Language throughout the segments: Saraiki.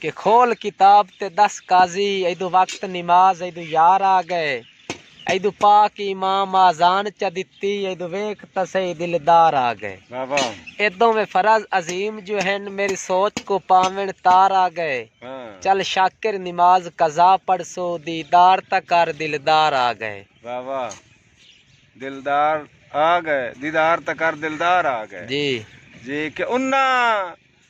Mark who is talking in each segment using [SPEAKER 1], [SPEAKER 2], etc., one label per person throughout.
[SPEAKER 1] کہ کھول کتاب تے ݙس قاضی ایدوں وقت نماز ایدوں یار آ ڳئے ایدوں پاک امام آذان چا ݙتی ایدوں ویکھ تاں سہی دلدار آ ڳئے اے
[SPEAKER 2] دوویں فرض
[SPEAKER 1] عظیم جو ہن میݙی سوچ کوں پاوݨ تار آ ڳئے چل شاکر نماز قضا پڑھسوں دیدار تاں کر دلدار آ ڳئے۔
[SPEAKER 2] دیدار تاں کر دلدار آ ڳئے جی کہ انہاں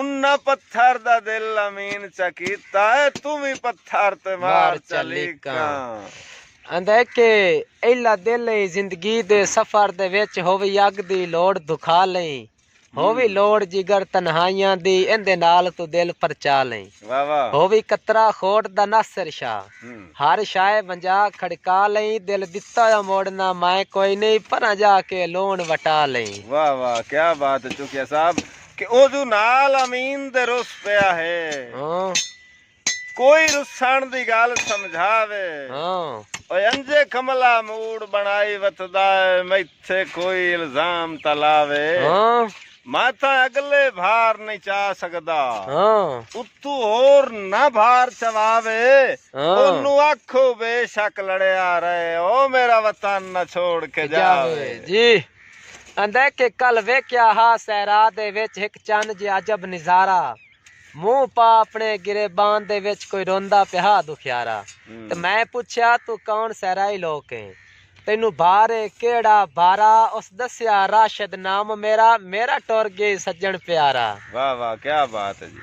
[SPEAKER 2] انہاں پتھر دا دل امین چا کیتا ہے توں وی پتھر تے مار چا لیکاں۔ آندے
[SPEAKER 1] کہ ایلا دل ایں زندگی دے سفر دے وچ ہووی اگ دی لوڑ دکھا لئیں ہووی لوڑ جگر تنہائیاں دی ایندے نال توں دل پرچا لئیں ہووی قطرہ خوٹ دا ناصر شاہ ہر شائے ونجا کھڑکا لئیں دل ڈتا ہویا موڑنا مائیں کوئی نئیں پراں جا کے لون وٹا لئیں واہ واہ کیا
[SPEAKER 2] بات ہے چوکیا صاحب۔ کہ اوجو نال امین دے رس پیا ہے کوئی رسن دی گل سمجھا وے اوئے انجے کملا موڈ بنائی وتھدا ہے میتھے کوئی الزام تاں لا وے میں تاں اگلے بھار نئیں چا سگدا اتو ہور نہ بھار چوا وے اونوں آکھو بے شک لڑیا رہے او میرا وطن نہ چھوڑ کے جا وے۔
[SPEAKER 1] آندے کہ کل ویکھیا ہا صحرا دے وچ ہک چن جیہا عجب نظارہ منہ پا اپنے گریبان دے وچ کوئی روندا پیا ہا دکھیارا تے میں پچھیا توں کون صحرائی لوک ایں تینوں بھار اے کیہڑا بھارا اس دسیا راشد نام میرا
[SPEAKER 2] میرا
[SPEAKER 1] ٹر گئی سجن
[SPEAKER 2] پیارا۔
[SPEAKER 1] واہ
[SPEAKER 2] واہ
[SPEAKER 1] کیا
[SPEAKER 2] بات ہے
[SPEAKER 1] جی۔